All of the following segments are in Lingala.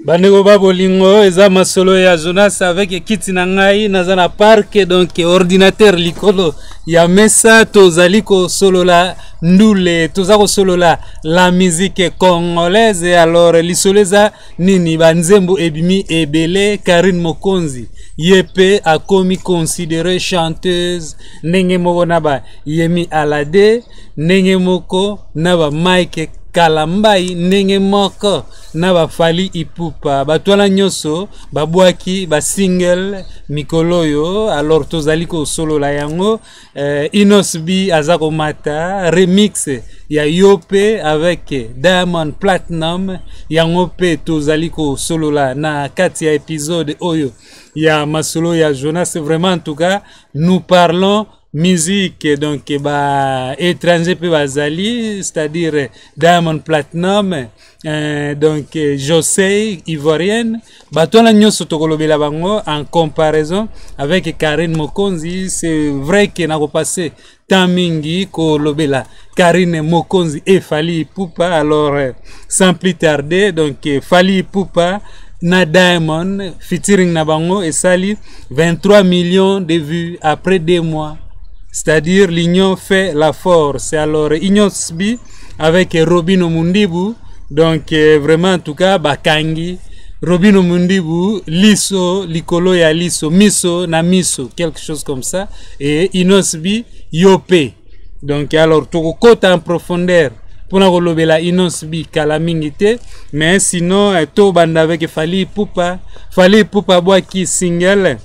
bandeko ba bolingo eza masolo ya jonas avec ekiti na ngai naza na parke donc ordinateur likolo ya mesa tozali kosolola ndule toza kosolola la musique congolaise alors lisolo eza nini banzembo ebimi ebele karine mokonzi ye mpe akomi considere chanteuse ndenge moko na ba yemi alade ndenge moko na ba mike kalambai ndenge moko na ba Fally Ipupa bato wana nyonso babwaki ba single mikolo oyo alors tozali kosolola yango eh, Inos B aza komata remix ya yo mpe avec Diamond Platinum yango mpe tozali kosolola na kati ya episode oyo ya masolo ya Jonas vraiment en tout cas nous parlons musique donc ba étranger mpe bazali c'est-à-dire diamond platinum euh, donc josey ivoirienne bato wana nyonso tokolobela bango en comparaison avec karine mokonzi c'est vrai ke nakopasse temps mingi kolobela Karine Mokonzi et Fali Poupa. Alors, euh, sans plus tarder, donc euh, Fali Poupa na Diamond featuring na bango et sali 23 millions de vues après deux mois. C'est-à-dire l'union fait la force. Alors, Union Sbi avec euh, Robino Mundibu. Donc, euh, vraiment, en tout cas, Bakangi. Robino Mundibu, Liso, Likolo ya Liso, Miso na Miso, quelque chose comme ça. Et Inosbi, Yopé. donc alors tokokota en profondeur mpona kolobela inonce bi kala mingi te mais sinon eh, tobanda avec fali ipupa fali ipupa abwaki single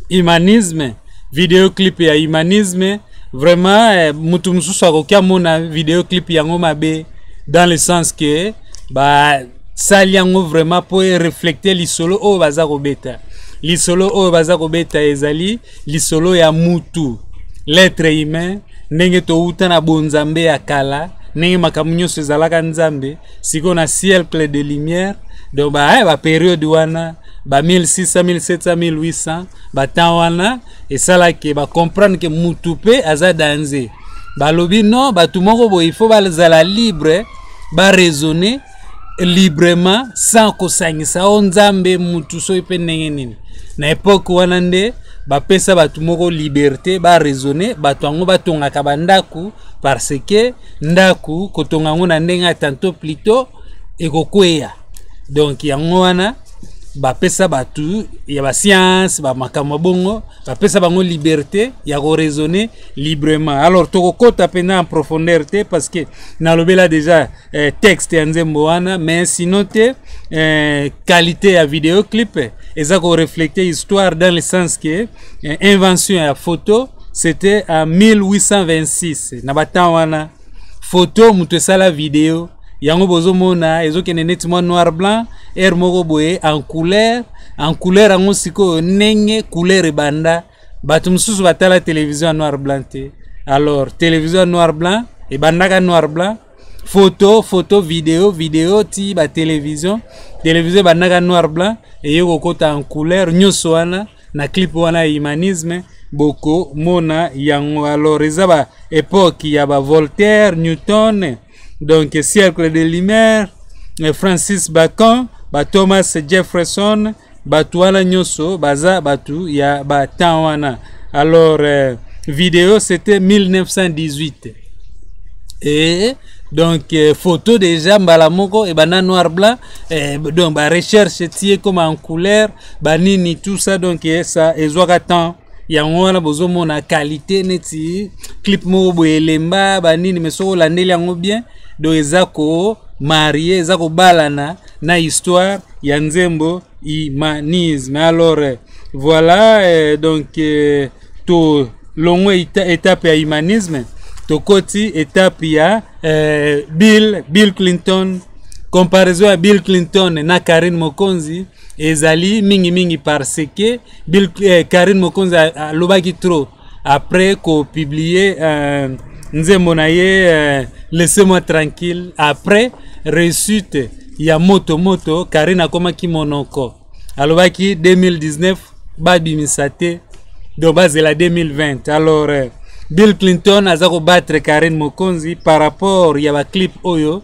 humanisme video clip ya humanisme vraiment eh, motu mosusu akoki amona video clip yango mabe dans le sens que basali yango vraiment mpo ereflekte lisolo oyo baza kobeta lisolo oyo baza kobeta ezali lisolo ya mutu l'etre humain ndenge towuta na bonzambe ya kala ndenge makambo nyonso ezalaka nzambe sikoyo na siècle de lumière donc ba, eh, ba periode wana ba 1600 1700 1800 batemp wana esalaki bacomprendre ke mutu mpe aza danze balobi non bato moko boye ifo bazala libre baraisonne librement sans kosangisa o nzambe mutu soki mpe ndenge nini na epoke wana nde bapesa bato moko liberte baraisonne bato yango batongaka bandako parce que ndako kotonga yango na ndenge ya tanto plutot ekokweya donc yango wana bapesa bato ya basianse bamakambo bongo bapesa bango liberte ya koraisonne librement alors tokokɔta mpenza en profondeur te parce que nalobela déjà eh, texte ya nzembo wana mais sinon te eh, qualité ya video clip eza koreflete histoire dans le sens que eh, invention ya photo c'était en 1826 na batemp wana photo moto esala video yango bozomona ezokende neti mwa noir blanc aire moko boye en couleur en couleur yango sikoyo ndenge couleur ebanda bato mosusu batala televizio ya noir blanc te alors televizio ya noir blanc ebandaka noir blanc foto foto video video ti batelevizio televizio ebandaka noir blanc eye kokota en couleur nyonso wana na clip wana ya humanisme bokomona yango alors eza ba epoque ya ba voltaire newton donc cercle de lumière francis bacon ba thomas jefferson bato wana nyonso baza bato ya batemp wana alors euh, video c'était 1918 et donc euh, photo déjà mbala moko ebanda noir blanc euh, donc barecherche ti ekoma en couleur banini tout ça donc euh, ça ezwaka temps yango wana bozomona qualité neti clip moko boye elemba banini me soki olandeli yango bien donc eza ko marie eza kobalana na histoire ya nzembo humanisme alors eh, voilà eh, donc eh, to longo etape ya humanisme tokoti etape ya eh, bill bill clinton comparaison ya bill clinton na karine mokonzi ezali mingimingi parce que bill, eh, karine mokonzi alobaki trop après ko publier euh, nzembo na ye euh, laissez moi tranquille après réussite ya moto moto karine akomaki monoko alobaki 2019 babimisa te donc bazela 2020 alors euh, bill clinton aza kobattre karine mokonzi par rapport ya baclip oyo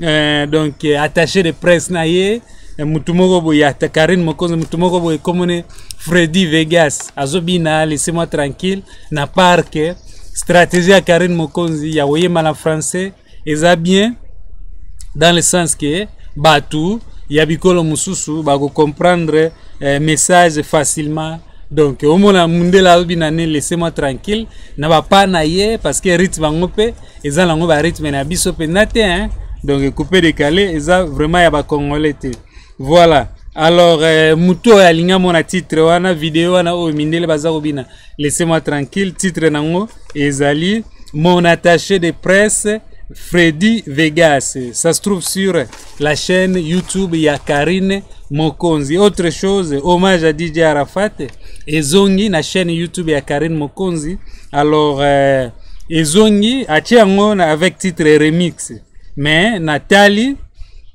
eh, donc eh, attaché de presse na ye eh, motu moko boye ata karine mokonzi motu moko boye komone fredi vegas azobina laisse moi tranquille na parke stratégie ya karine mokonzi ya koyemba na français eza bien dans le sens que bato ya bikolo mosusu bakocomprendre eh, message facilement donc omona mundele alobi na ne laisse moi tranquille na bapa na ye parce que rythme yango mpe eza nango ba rythme na biso mpenza te hein? donc coupe décalé eza vraiment ya bacongolais te voilà alors euh, motu oyo alingi amona titre wana video wana oyo mindele baza kobina laisse moi tranquille titre nango ezali mon attaché de presse freddy vegas ça se trouve sur la chaîne YouTube ya Karine Mokonzi. Autre chose, hommage à DJ Arafat ezongi na chaîne YouTube ya Karine Mokonzi. Alors euh, ezongi atie yango na- avec titre remix. Mais natali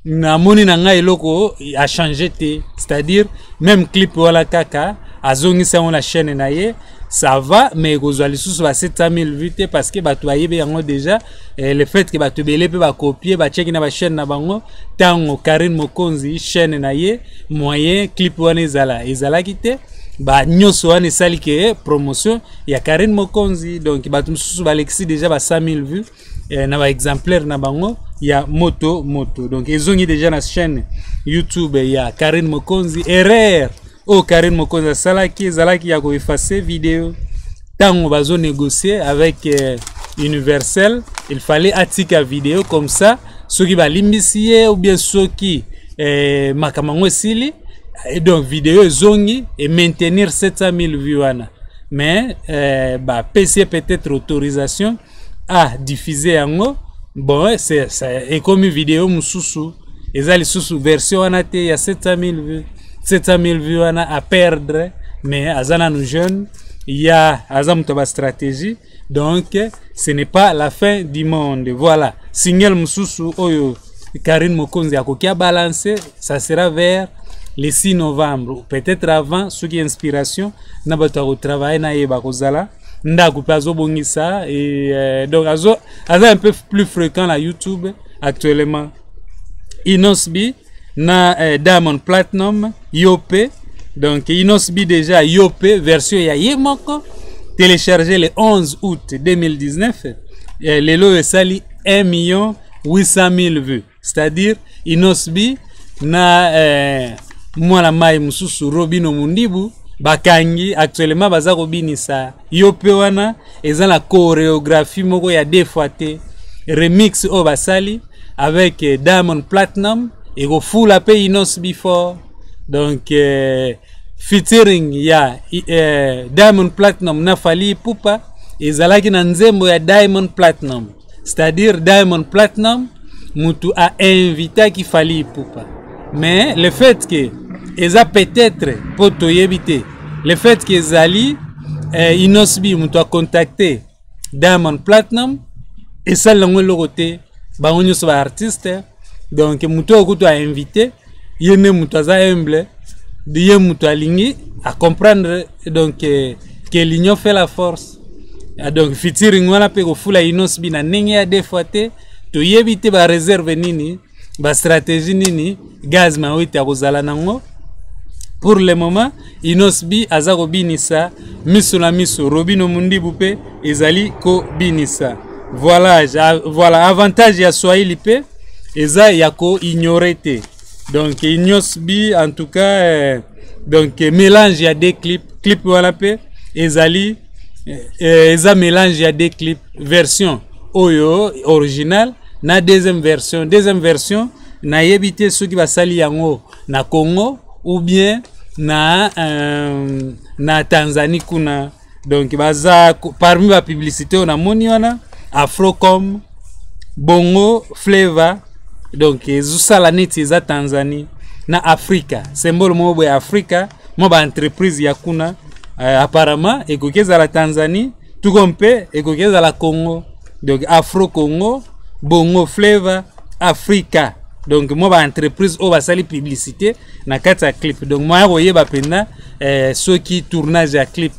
namoni na ngai eloko a change te c'est-à-dire même clip wana kaka azongisa yango na chaîne na ye ça va mais ekozwa lisusu ba 700000 vues te parce que bato bayebi yango déjà eh, le fait que bato ebele mpe bakopie bacheki na bachaîne na bango ntango karine mokonzi chaîne na ye moyen clip wana ezala ezalaki te ba nyonso wana esali ke eh, promotion ya karine mokonzi donc bato mosusu balekisi déjà ba 100000 vues eh, na baexemplaire na bango ya moto moto donc ezongi déjà na chaîne youtube ya karine mokonzi erreur oyo oh, karine mokonzi asalaki ezalaki ya koefase video ntango bazonegocie avec eh, universel il fallait atika video comme ça soki balimbisi ye ou bien soki eh, makambo yango esili et donc video ezongi e maintenir 700 000 vues wana mais euh, bapesi ye peut-être autorisation ah diffuse yango bon eh, c'est ça ekomi video mususu eza lisusu version wana te ya 700000 vues 700000 vues wana à perdre mais aza nanu jeune ya aza moto ya bastratégie donc ce n'est pas la fin du monde voilà single mosusu oyo karine mokonzi akoki abalance ça sera vers le 6 novembre peut-être avant soki inspiration na bato ya kotravaille na ye bakozala ndako mpe azobongisa euh, donc azo aza un peu plus fréquent na youtube actuellement inosb na euh, diamond platinum yo mpe donc inosb déjà yo mpe version ya ye moko téléchargé le 11 août 2019 euh, lelo oyo esali 1 million 800 000 vues c'est-à-dire inosbi na eh, mwana mai mosusu robino mundibu bakangi actuellement baza kobinisa yo mpe wana eza na choreographie moko ya deux fois te remix oyo basali avec eh, diamond platinum ekofula mpe inos before donc eh, featuring ya eh, diamond platinum na fali ipupa ezalaki na nzembo ya diamond platinum c'est-à-dire diamond platinum mutu a invitaki fali ipupa mais le fait que eza peut-être mpo toyebi te le fait que ezali eh, inosbi mutu acontacte diamond platinum esali yango eloko te bango nyonso baartiste donc mutu oyo kutu ainvite ye nde moto aza humble ye moto alingi acomprendre donc que, que l'union fait la force ah, donc fitiring wana mpe kofula inosbi na ndenge ya deux fois te toyebi te bareserve nini bastratégie nini gaz mawete akozala nango pour le moment Inosb aza kobinisa miso na miso Robino Mundibu pe ezali kobinisa voilà, voilà avantage ya Swahili pe eza ya ko ignorer te donc Inosb en tout cas eh, donc mélange ya deux clip clip wana pe ezali eh, eza mélange ya deux clip version oyo original na deuxième version deuxième version nayebi te soki basali yango na congo ou bien na, euh, na tanzanie kuna donc baza parmi bapublicité oyo namoni wana afrocom bongo flavor donc ezosala neti eza tanzanie na afrika symbole moko boye afrika mwa baentreprise ya kuna euh, apparemment ekoki ezala tanzanie tout comme mpe ekoki ezala congo donc afro congo bongo flavor africa donc mwa baentreprise oyo basali publicité na kati ya clip donc moya koyeba mpenza eh, soki tournage ya clip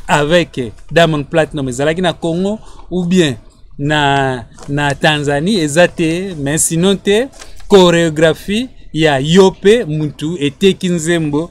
avec diamond platinum ezalaki na congo ou bien na, na tanzanie eza te mais sinon te chorégraphie ya yo mpe mutu eteki nzembo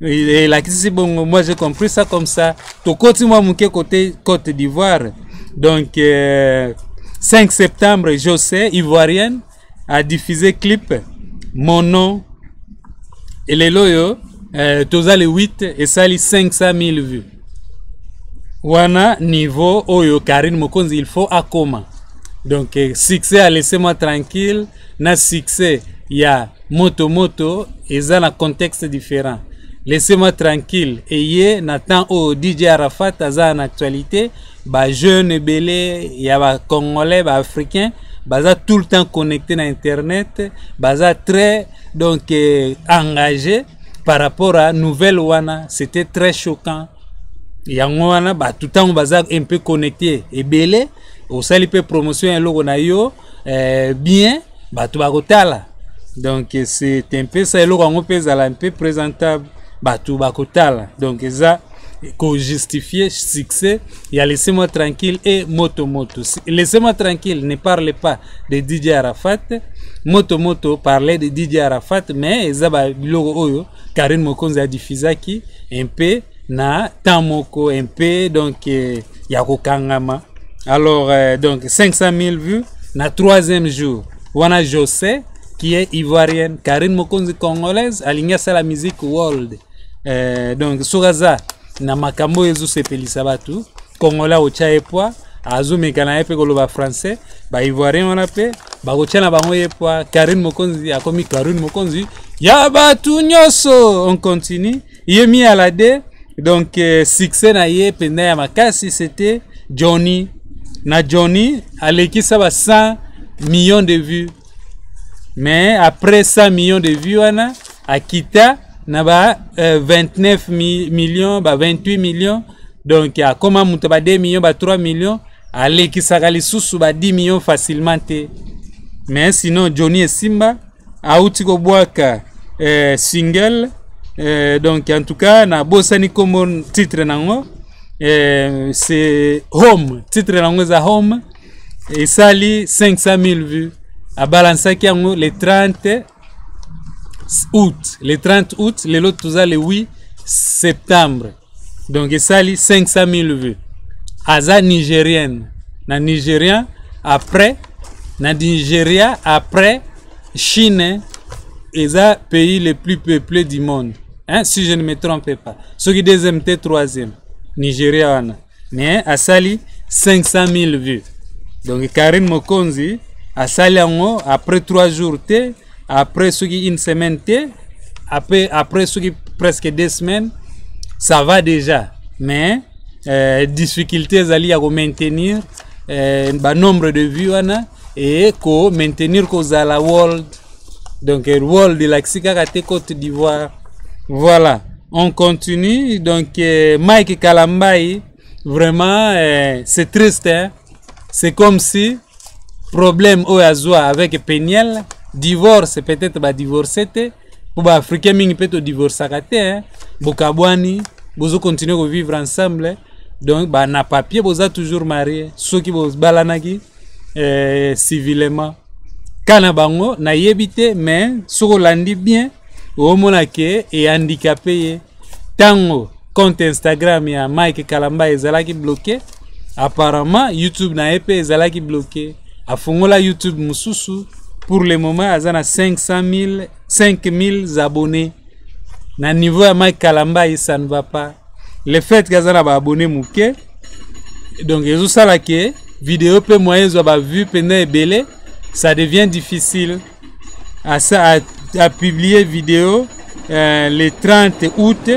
elakisi bongo moi j'ai compris ça comme ça tokoti mwa moke côté côte d'ivoire donc euh, 5 septembre je sais ivoirienne a diffusé clip mon nom et lelo oyo euh, toza le 8 esali 500 000 vues wana niveau oyo karine mokonzi il faut akoma donc euh, succès a laissé moi tranquille na succès ya moto moto eza na contexte différent laissez-moi tranquille eye na temps oyo dj arafat aza na actualité bajeune ebele ya bacongolais baafricain baza tout le temps connecté na internet baza très donc eh, engagé par rapport à nouvelle wana c'était très choquant yango wana bato ntango baza un peu connecté ebele osali mpe promotion ya eloko na yo eh, bien bato bakotala donc c'est un peu ça eloko yango mpe ezala mpe présentable bato bakotala donc eza co-justifier succès il y a laissez-moi tranquille et moto moto laissez-moi tranquille ne parle pas de DJ Arafat moto moto parlait de DJ Arafat mais eza ba biloko oyo Karine Mokonzi a diffusaki un peu na temps moko un peu donc euh, ya kokangama alors euh, donc 500 000 vues na troisième jour wana jose qui est ivoirienne karine mokonzi congolaise alingi asala musique world euh, donc soki aza na makambo oyo ezosepelisa bato kongola otya ye pwa azomeka na ye mpe koloba français baivoirien wana mpe bakotya na bango ye pwa karine mokonzi akomi karine mokonzi ya bato nyonso on continue ye mi alade donc euh, succès na ye mpenza ya makasi c'était johnny na johnny alekisa ba 100 millions de vues mais après 100 millions de vues wana akita na ba euh, 29 mi millions ba 28 millions donc akoma moto ba 2 millions ba 3 millions alekisaka lisusu ba 10 millions facilement te mais sinon johnny esimba auti kobwaka eh, single eh, donc en tout cas nabosani kombo titre nango eh, c'est home titre nango eza home esali 500 000 vues abalansaki yango le 30 août le 30 août lelo toza le 8 septembre donc esali 500 000 vues aza nigérienne na nigérien après na nigeria après chine eza pays le plus peuplé du monde hein, si je ne me trompe pas soki deuxième te troisième nigeria wana mais asali 500 000 vues donc karine mokonzi asali yango après 3 jours te après soki une semaine te après, après soki presque deux semaines ça va déjà mais euh, difficulté ezali ya komaintenir euh, banombre de vue wana e komaintenir kozala world donc euh, world elakisi kaka te cote d'ivoire voilà on continue donc euh, mike kalambai vraiment euh, c'est triste hein? c'est comme si problème oyo azwa avec peniel divorce peut-être badivorce te mpo baafricain mingi mpe todivorcaka te hein. bokabwani bozo continue kovivre ensemble donc bana papier boza toujours marie soki bobalanaki eh, civilement ka na bango nayebi te mais soki olandi bien omona ke ehandikape ye Tango compte Instagram ya Mike Kalamba ezalaki bloqué, apparemment YouTube na EP ezalaki bloqué. Afongola YouTube mususu pour le moment aza na 500 000 5000 abonnés. Na niveau ya Mike Kalamba ça ne va pas. Le fait que aza na ba abonnés muke donc ezo sala que vidéo pe moyen zo ba vue pena ebele ça devient difficile. a, a, a publie video euh, le 30 août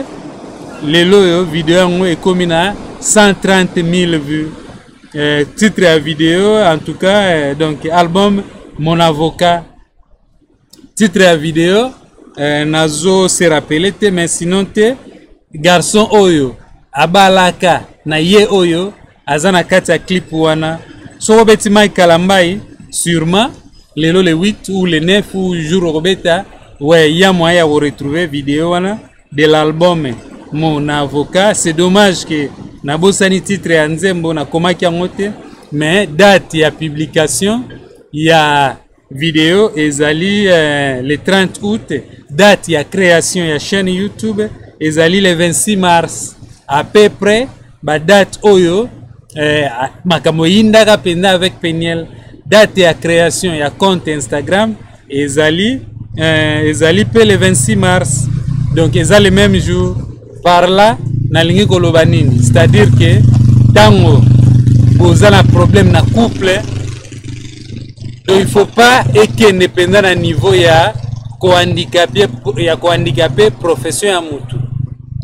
lelo oyo video yango ekomi na 130 000 vues euh, titre ya video en tout cas euh, donc album mon avocat titre ya video euh, nazo se rappele te mais sinon te garçon oyo abalaka na ye oyo aza na kati ya clip wana soki obeti mike kalambai sûrement lelo le 8 ou le 9 ou jour okobeta ouais ya moyen ya koretrouve video wana de l'album mon avocat c'est dommage que nabosani titre ya nzembo nakomaki yango te mais date ya publication ya Video ezali eh, le 30 août, date ya création ya chaîne YouTube ezali le 26 mars. À peu près ba date oyo eh, makambo eyindaka mpenza avec Peniel. Date ya création ya compte Instagram ezali eh, ezali mpe le 26 mars. Donc eza le même jour. par là nalingi koloba nini c'est-à-dire que ntango boza na problème na couple to il faut pas ekende mpenza na niveau ya kohandikape ya kohandikape profession ya motu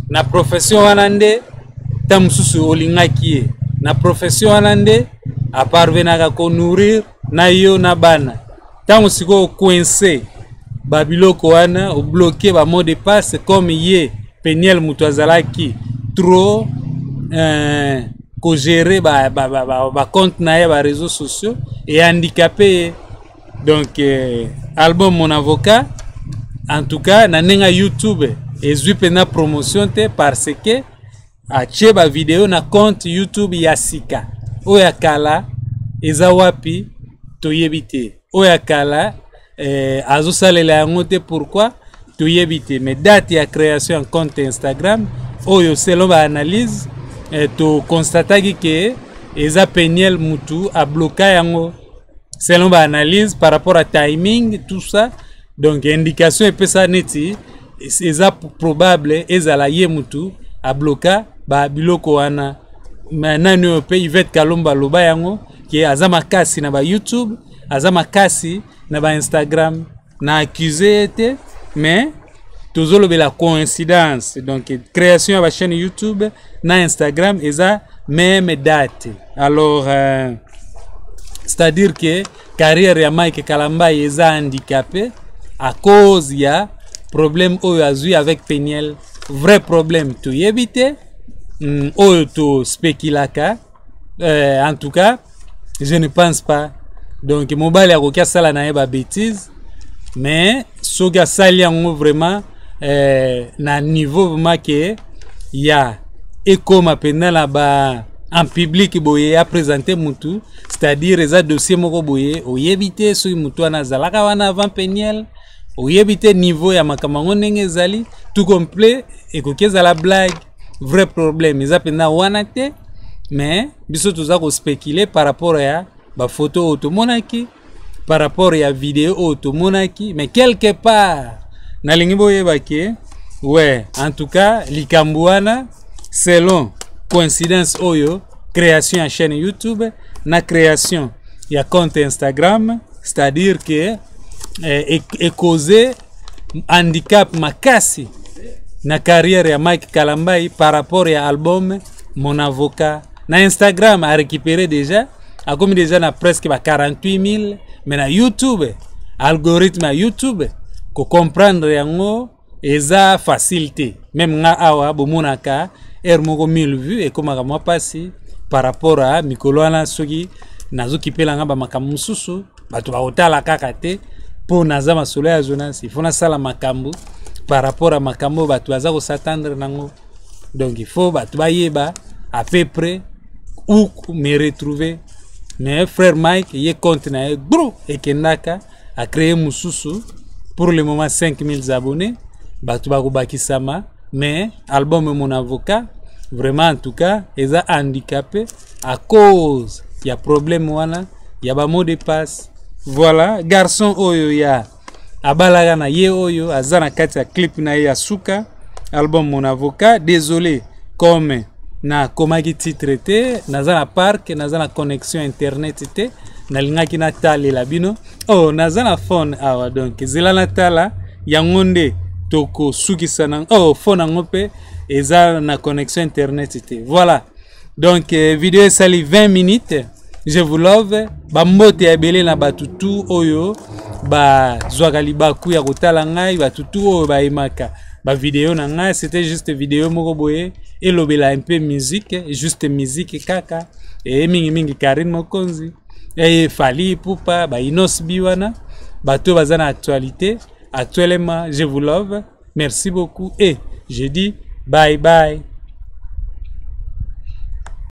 na profession wana nde ntango mosusu olingaki ye na profession wana nde aparvenaka konourrir na yo na bana ntango sikoyo coince babiloko wana obloke bamot de passe comme ye peniel moto azalaki trop euh, kogere bacompte ba, ba, ba, ba, ba na ye bareseau sociaux ehandikape ye donc euh, album mon avocat en tout cas na ndenge ya youtube ezwi mpenza promotion te parce que atie ba video na compte youtube ya sika oyo ya kala eza wapi toyebi te oyo ya kala eh, azosalela yango te pourquoi toyebi te mais date ya création ya compte instagram oyo selon baanalyse eh, toconstataki ke eza peniel mutu abloka yango selon baanalyse par rapport à timing tout ça donc indication epesa neti eza probable ezala ye mutu abloka ba biloko wana me nani oyo mpe ivete kalomba aloba yango ke aza makasi na ba youtube aza makasi na ba instagram na accuse ye te mais tozolobela coïncidence donc création ya bachaîne youtube na instagram eza meme date alors euh, c'est à dire que carrière ya mike kalambayi eza handicapé à cause ya problème oyo azwi avec peniel vrai problème toyebi te mm, oyo tospekilaka euh, en tout cas je ne pense pas donc mobali akoki asala na ye babétise mais soki asali yango vraiment euh, na niveau vraiment ke ya ekoma mpenza na ba en public boye apresente mutu c'est-à-dire eza dossier moko boye oyebi te soki motu wana azalaka wana avant peniel oyebi te niveau ya makambo yango ndenge ezali tout complet ekoki ezala blague vrai problème eza mpenza wana te mais biso toza kospecule par rapport ya bafoto oyo tomonaki par rapport ya video oyo tomonaki mais quelque part nalingi boyeba ke we en tout cas likambo wana selon coïncidence oyo création ya chaîne youtube na création ya compte instagram c'est-à-dire que eh, ekoze handicap makasi na carrière ya mike kalambai par rapport ya album mon avocat na instagram a récupéré déjà akomi déjà na presque ba 48 000 mais na youtube algorithme ya youtube kocomprendre yango eza facile te meme nga awa bomonaka heure moko 1000 vue ekomaka mwa mpasi par rapport a mikolo wana soki nazokipela nga bamakambo mosusu bato bakotala kaka te mpo naza masolo ya zonasi ifo nasala makambo par rapport a makambo oyo bato baza kosatandre nango donc ifo bato bayeba à peu près où me retrouver mais frère mike ye compte na ye gro ekendaka a créer mususu pour le moment 5000 abonnés bato bakobakisama mais album mon avocat vraiment en tout cas eza handicapé à cause ya problème wana ya ba mot de passe voilà garçon oyo ya abalaka na ye oyo aza na kati ya clip na ye ya suka album mon avocat désolé comme nakomaki titre te naza na parc naza na connexion internet te nalingaki natalela bino o oh, naza na phone awa donc zela natala yango nde tokosukisa na o oh, phone yango mpe eza na connexion internet te voilà donc eh, video esali 20 minutes je vous love bambote ya ebele na bato tu oyo bazwaka libaku ya kotala ngai bato tu oyo bayemaka bavideo na ngai c'était juste video moko boye elobela un peu musique juste musique kaka eye mingimingi karine mokonzi eye fali pupa bainos bi wana bato oyo baza na actualité actuellement je vous love merci beaucoup et je dis bye bye